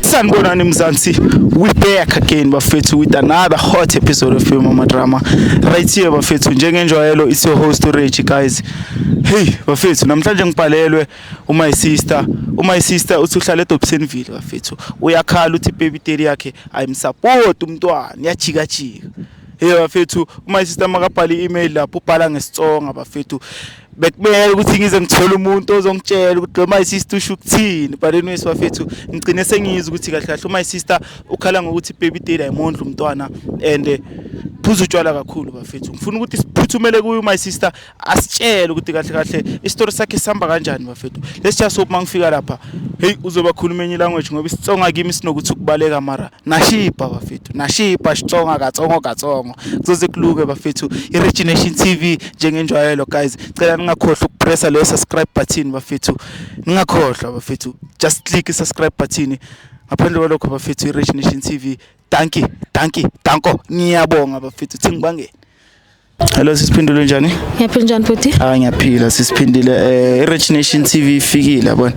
sanibonani mzansi we back again bafethu with another hot episode of mama drama right here bafethu njengenjwayelo it's your host Reggie guys hey bafethu namhlanje ngibhalelwe umy sister umy sister uthi uhlala edobsenville bafethu uyakhala uthi baby daddy yakhe ayimsupport umntwana yajika jika hey bafethu uma sister makabhala i-email lapho ubhala ngesitsonga bafethu bekumele ukuthi ngize ngithole umuntu ozongitshela ukuthi lo my sister usho ukuthini but anyway bafethu ngigcine sengizwe ukuthi kahle kahle my sister ukhala ngokuthi baby daddy ayimondla umntwana and eh, phuza utshwala kakhulu bafethu ngifuna ukuthi siphuthumele kuyo my sister asitshele ukuthi kahle kahle isitori sakhe sihamba kanjani bafethu let's just hope mangifika lapha hey uzobakhuluma enye language ngoba isitsonga kimi sinokuthi ukubaleka mara nashipa bafethu nashipa xitsonga katsongo katsongo kuzoze kuluke bafethu i-regination tv njengenjwayelo guys cela ningakhohlwa ukupressa leyo subscribe button bafethu ningakhohlwa bafethu just click i-subscribe button ngaphandle kwalokho bafethu i-regination tv danki danki danko ngiyabonga bafethu thingibangeni Hello sisiphindule njani? Ngiyaphila njani futhi? Ah ngiyaphila sisiphindile eh iRich Nation TV ifikile yabona.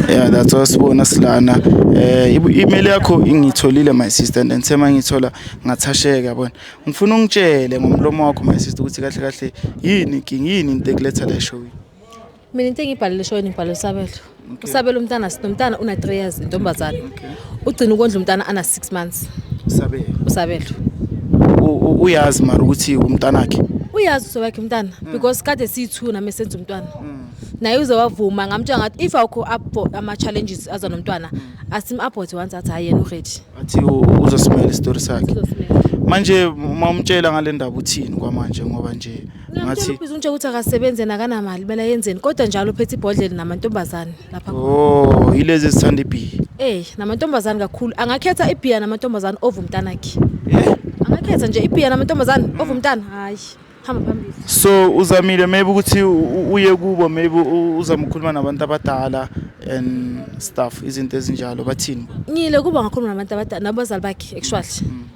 Yeah that's all sibona silana. Eh email yakho ingitholile my sister and then sema ngithola ngathasheka yabona. Ngifuna ungitshele ngomlomo wakho my sister ukuthi kahle kahle yini inkinga yini into ekuletha la show. mina into engiyibhalele eshoweni ngibhalele usabelo okay. usabelo umntana sinomntana una 3 years intombazane okay. ugcina ukondla umntana ana 6 months usabelo usabelo uyazi mara ukuthi umntana wakhe uyazi uso wakhe umntana mm. because kade siyi-two nami esenza umntwana mm. naye uze wavuma ngamtshela ngathi if awukho ama-challenges aza nomntwana mm. asim-abhothe once athi hhayi yena uready athi uzosimela isitori sakhe manje uma umtshela ngale ndaba uthini kwamanje ngoba nje ngathi ubiza unje ukuthi akasebenze nakanamali bela yenzeni kodwa njalo uphethe ibhodlela namantombazane lapha oh yilezi ezithanda ibhiya eh namantombazane kakhulu angakhetha ibhiya namantombazane ovu mntanakhe eh angakhetha nje ibhiya namantombazane mm. ovu mntana hayi hamba phambili so uzamile maybe ukuthi uye kubo maybe uzama ukukhuluma nabantu abadala and stuff izinto ezinjalo bathini ngile kuba ngakhuluma nabantu abadala nabazali bakhe actually mm.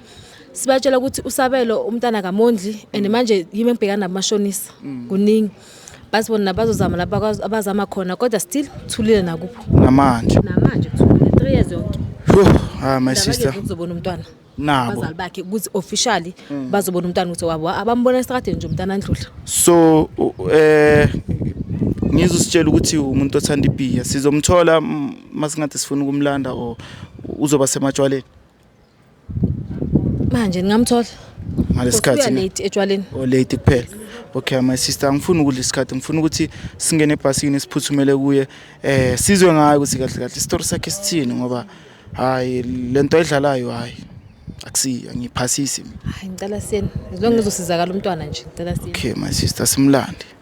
sibatshela ukuthi usabelo umntana kamondli and manje yimi engibhekana nabo mashonisa mm. kuningi bathi bona nabazozama laba abazama khona kodwa still thulile nakupho namanje namanje kuthulile 3 years yonke ha ah, my sister uzobona umntwana nabo abazali bakhe ukuthi officially mm. bazobona umntana ukuthi wabo abambona estradeni nje umntana andlula so eh ngizositshela ukuthi umuntu othanda ibhiya sizomthola masingathi sifuna ukumlanda or uzoba sematshwaleni manje ningamthola ngalesikhathi late etshwaleni o oh, late kuphela okay my sister angifuni ukudla isikhathi ngifuna ukuthi singene ebhasini siphuthumele kuye eh sizwe ngayo ukuthi kahle kahle isitori sakhe sithini ngoba hayi lento ayidlalayo hayi akusi angiphasisi mina hayi ngicela siyeni as long as uzosizakala umntwana nje ngicela siyeni okay my sister simlande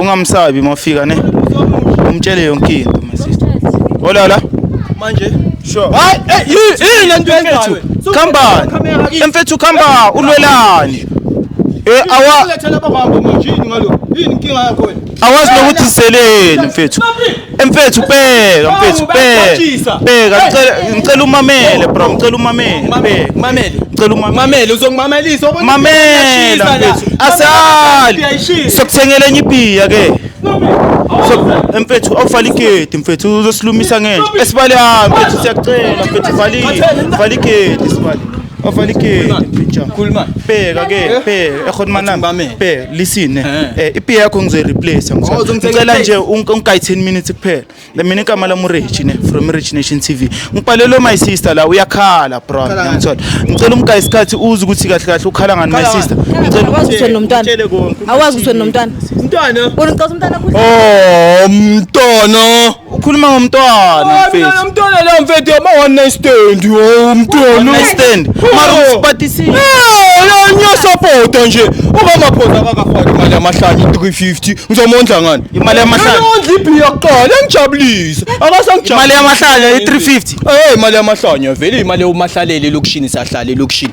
ungamsabi mafika ne umtshele yonke into my sister olala manje sure hayi eh, yini lento yenzayo khamba emfethu khamba ulwelani eh awa lethela baba manje yini ngalo yini inkinga yakho wena awazi nokuthi iseleni mfethu Mfethu bheka mfethu bheka bheka ngicela ngicela umamele bro ngicela umamele bheka mamele ngicela umamele uzongimamelisa obona mamela mfethu asali sokuthengela enye ibhiya ke mfethu awuvala igedi mfethu uzosilumisa ngenja esibali hhayi mfethu siyacela mfethu vala igedi sibali Avali ke picture. Cool man. Bheka ke, eh? bheka. Ekhona eh, manami. Bame. Bheka, listen. Eh, eh ipi yakho ngizoyi replace oh, Ngicela nje unkayi 10 minutes kuphela. Le mina igama la Murich ne from Rich Nation TV. Ngibhalele my sister la uyakhala bro. Ngiyamthola. Ngicela umkayi isikhathi uze ukuthi kahle kahle ukhala ngani my sister. Ngicela ukwazi ukuthi nomntwana. Awazi ukuthi nomntwana. Umntwana. Unicela umntwana kuhle. Oh, umntwana. ukhuluma ngomntwana Hayi, mfethu mina mntwana la mfethu yama one night stand oh One mntwana night stand. Mara Oh. usipatisile. Eh, la ngiyasapota nje ungamaphosa akakafaki imali yamahlanye 350 ngizomondla ngani Imali yamahlanye? ondla ibhiya kuqala engijabulise akasangijabulise Imali yamahlanya i-350. Eh imali yamahlanya vele imali yomahlalele elokishini sahlala elokishini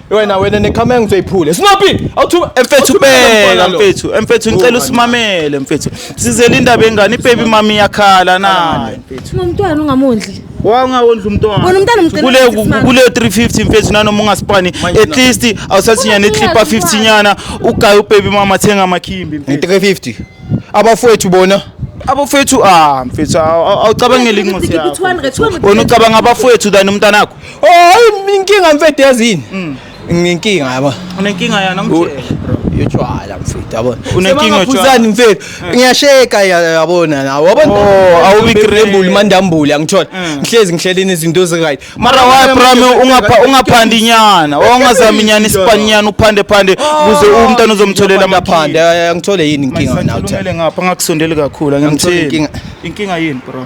wena wena nekhamera ngizoyiphule sinopi awuthu mfethu bela mfethu mfethu ngicela usimamele mfethu sizele indaba engane ibaby mami yakhala naye mfethu nomntwana ungamondli wangawondla umntwana wena umntana umcela kule kule 350 mfethu nanoma ungasipani at least awusathinyana iclipa 50 nyana ugaye ubaby mama thenga amakhimbi mfethu 350 abafowethu bona abafowethu ah mfethu awucabangeli incwadi yakho wena ucabanga abafowethu than umntanakho Oh, inkinga mfethu yazini. Mm. Nginkinga yabo. Unenkinga yana ngitshela. Yotshwala mfethu yabona. Unenkinga yotshwala mfethu. Mm. Ngiyasheka yabona nawe. Wabona oh, awubi crable mandambule angithola. Mm. Ngihlezi ngihlelela izinto ezi right. Mara why prime ungapha ungaphandi nyana. Wawungazami nyana isipanyana uphande phande oh. kuze umntana uzomtholela amaphande. Angithole yini inkinga nawe? Ngithole ngapha ngakusondeli kakhulu. Angithole inkinga. Inkinga yini bro?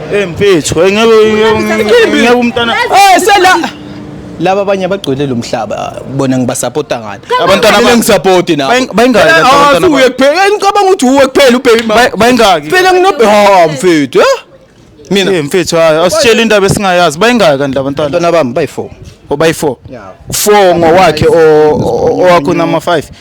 Eh mfethu, hey ngeke ngeke umntana. Eh sela laba abanye abagcwele lo mhlaba bona ngibasapota ngani abantwana abanye ngisapoti nabo bayingaki eh, abantwana uye kuphela ngicabanga ukuthi uwe kuphela ubheki mama bayingaki phela nginobhe ha ah, mfethu eh? mina eh mfethu hayi asitshela indaba esingayazi bayingaki kanti labantwana abantwana bami bayi4 obayi4 4 ngowakhe owakho nama 5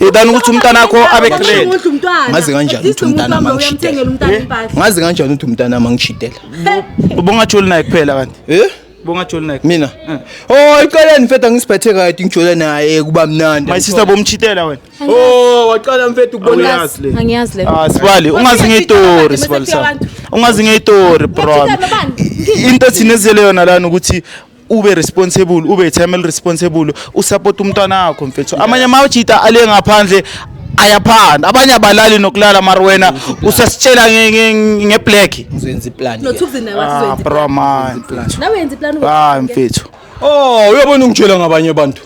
Yidani ukuthi umntana wakho abe great. Ngazi kanjani ukuthi umntana wami angishidela. Ngazi kanjani ukuthi umntana wami angishidela. Ubongatholi naye kuphela kanti. Eh? Bongatholi naye. Mina. Eh. Oh, iqaleni mfethu angisiphethe kahle ngijole naye kuba mnandi. My sister bomchitela wena. Oh, waqala mfethu ukubona yazi le. Angiyazi le. Ah, sibali, ungazi ngeyitori sibali sa. Ungazi ngeyitori bro. Into thina ezele yona lana ukuthi ube responsible ube time responsible usupport umntwana wakho mfethu amanye amajita ale ngaphandle ayaphanda abanye abalali nokulala mari wena usasitshela ngeblack uzenza iplan nothukuzi nawe wathi uzoyenza ah, bro man nawe yenza iplan hayi mfethu oh uyabona ungitshela ngabanye abantu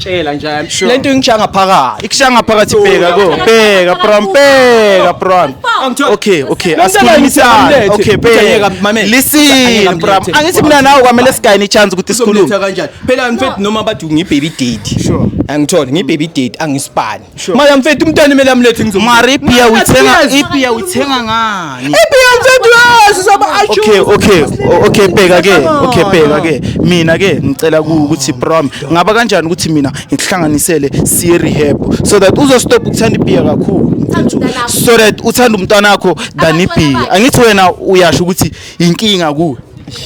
Tshela nje I'm sure. lento ingishanga phakathi Ikushanga phakathi bheka ko. Bheka prom bheka prom. Okay, okay. Lo mntana ngithi Asikhulumisana. amlethe. Okay, Ukuthi ayeka, bheka. mamela. Ayeka Listen amlethe. prom. Angithi mina nawe kwamele sigayine chance ukuthi sikhulume. Uzomletha kanjani phela mfethu noma bathi ngibaby date Sure. angithole ngibaby date angisipani Sure. Mara mfethu umntwana imele amlethe ngizomletha. Mara ipiya uyithenga ipiya uyithenga ngani? Ipiya mfethu yazi soba achu. Okay, okay. Okay, bheka ke. Okay, bheka ke. Mina ke ngicela ukuthi prom ngaba kanjani ukuthi mina ngikuhlanganisele siye rehab so that uzo stop ukuthanda ipiya kakhulu. So that uthanda umntwana wakho than ipiya. Angithi wena uyasho ukuthi inkinga kuwe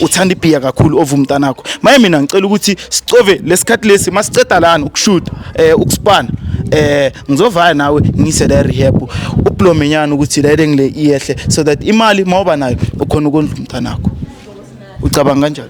uthanda ibhiya kakhulu ova umntanakho maye mina ngicela ukuthi sicove lesikhathi lesi masiceda lana ukushuta eh ukusipana eh ngizovaya nawe ngise la rehab uplomenyana ukuthi la engile iyehle so that imali mawuba nayo ukhona ukondla umntanakho ucabanga kanjani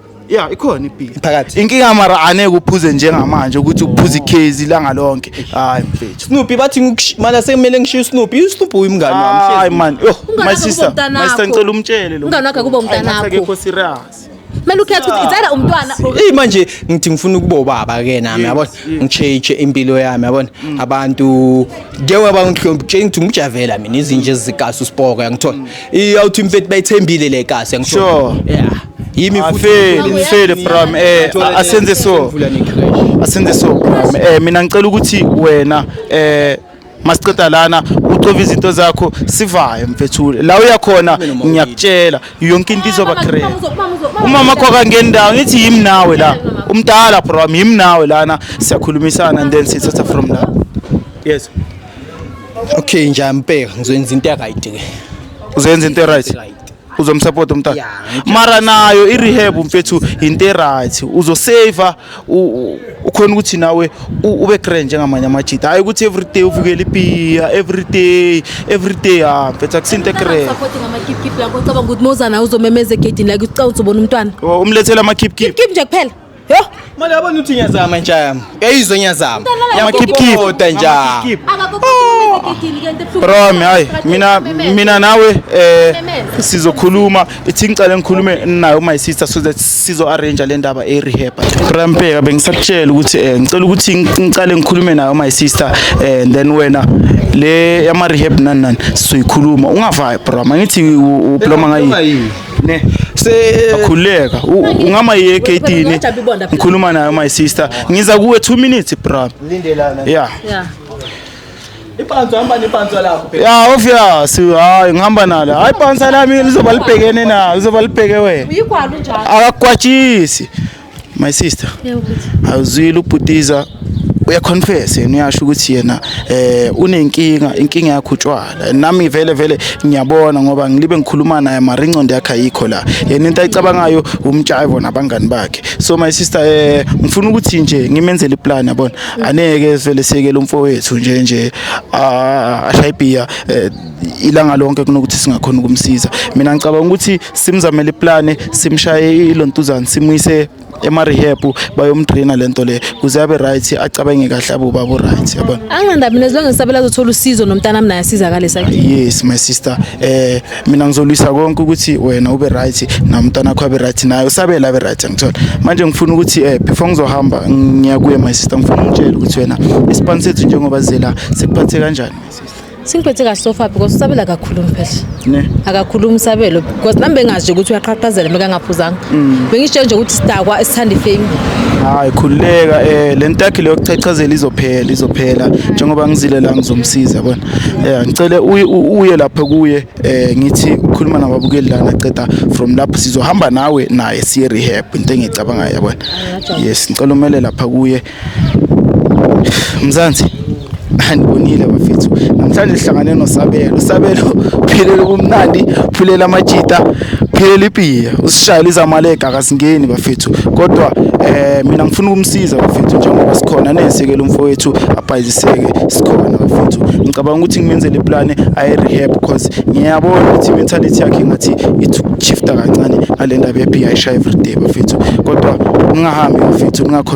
ya ikhona ibhili phakathi inkinga mara aneke uphuze njengamanje ukuthi uphuze ikhezi ilanga lonke hayi mfethu Snoopy bathi ngikush- mana sekumele ngishiye uSnoopy uSnoopy uyimngane wami hayi hlezi. man yo my Ungana sister kubo mntanakho. my sister ngicela umtshele lo Ungana wakhe kubo mntanakho. akekho serious kumele ukhethe ukuthi it's either umntwana or- Eyi manje ngithi ngifuna ukuba ubaba ke nami yabona ngitsheje impilo yami yabona mm. abantu njengoba bangihlombi kutshela ukuthi ngimjavela mina izinje ezikaso usipoko yangithola mm. iyawuthi imfethi bayithembile le kasi yangithola yeah yimi futhi mfele from eh asenze so asenze so eh mina ngicela ukuthi wena eh masiceda lana ucova izinto zakho sivayo mfethu la uyakhona ngiyakutshela yonke into izoba great umama wakho akangeni ndawo ngithi yimi nawe la umdala bro wami yimi nawe lana siyakhulumisana and then sithatha from la yes okay nje ampeka ngizoyenza into right ke uzoyenza into right uzomsapota umntana Yeah, ngitshela mara nayo i-rehab mfethu yinto e-right uzoseva u- u- ukhona ukuthi nawe u- ube grand njengamanye amajita hhayi ukuthi everyday uvukele ipiya everyday everyday ha mfethu akusinto e-grand Support ngamakipkip lakho ucabanga ukuthi mozana uzomemeza egedini like ucawuthi ubona umntwana umlethele amakhipkhip kip nje kuphela Yho, mali yabona uthi ngiyazama intsha yami. Uyayizwa ngiyazama. Yamakipkipota nja. Bro, mi hayi mina mina nawe eh sizokhuluma ithi ngicela ngikhulume nayo my sister so that sizo arrange le ndaba e rehab. Bro, mpeka bengisakutshela ukuthi eh ngicela ukuthi ngicela ngikhulume nayo my sister eh and then wena le yama rehab nani nani sizoyikhuluma ungavaya bro mangithi ubloma ngayi ne sekhuleka ungama ye KT ne ngikhuluma nayo my sister ngiza kuwe 2 minutes bra lindelana yeah yeah Ipanzo hamba nepanzo lakho. Yeah, obvious. Hayi ngihamba nalo. Hayi panza lami lizoba libhekene na, lizoba libheke wena. Uyikwalo njalo. Akakwatshisi. my sister awuzwile ubhutiza uyaconfess yena uyasho ukuthi yena eh unenkinga inkinga yakhe utshwala nami vele vele ngiyabona ngoba ngilibe ngikhuluma naye mara ingcondo yakhe ayikho la yena into ayicabangayo umtshayivo nabangani bakhe so my sister eh ngifuna ukuthi nje ngimenzele iplan yabona aneke vele sekele umfowethu nje nje ashayibhiya eh, ilanga lonke kunokuthi singakhona ukumsiza mina ngicabanga ukuthi simzamele iplane simshaye ilontuzana simuyise ema-rehab bayomdraina le nto le kuze abe right acabange kahle abe ubaba right yabona anginandaba mina zilonge ngisabela azothola usizo nomntanami naye asizakale sakhe yes my sister eh mina ngizolwisa konke ukuthi wena ube right namntana wakho abe right naye usabela abe right angithola manje ngifuna ukuthi eh before ngizohamba ngiya kuye my sister ngifuna ungitshele ukuthi wena isipani sethu njengoba zela sikuphathe kanjani my sister Singiphethe kahle sofa because usabela kakhulu mphehla. Ne. Akakhulumi sabelo because nami bengazi ukuthi uyaqhaqhazela meka ngaphuzanga. Mm. Bengisho nje ukuthi sidakwa esithandi fame. Hayi khululeka eh lentakhi leyo kuchachazela izophela izophela njengoba ngizile la ngizomsiza yabona. Eh ngicele uye lapha kuye eh ngithi ukhuluma nababukeli lana qeda from lapho sizohamba nawe naye siye rehab into engicabanga yabona. Yes ngicela umele lapha kuye Mzansi andibonile bafethu namhlanje sihlangane nosabelo sabelo uphilela ubumnandi uphilela amajita uphilela ipiya usishayela izamalega akasingeni bafethu kodwa eh mina ngifuna ukumsiza bafethu njengoba sikhona nesekele umfowethu abhayiziseke sikhona bafethu ngicabanga ukuthi ngimenzele iplane ayi rehab because ngiyabona ukuthi mentality yakhe ngathi ithi shifta kancane ngalendaba yepiya ishaya everyday bafethu kodwa ungahambi bafethu ungakho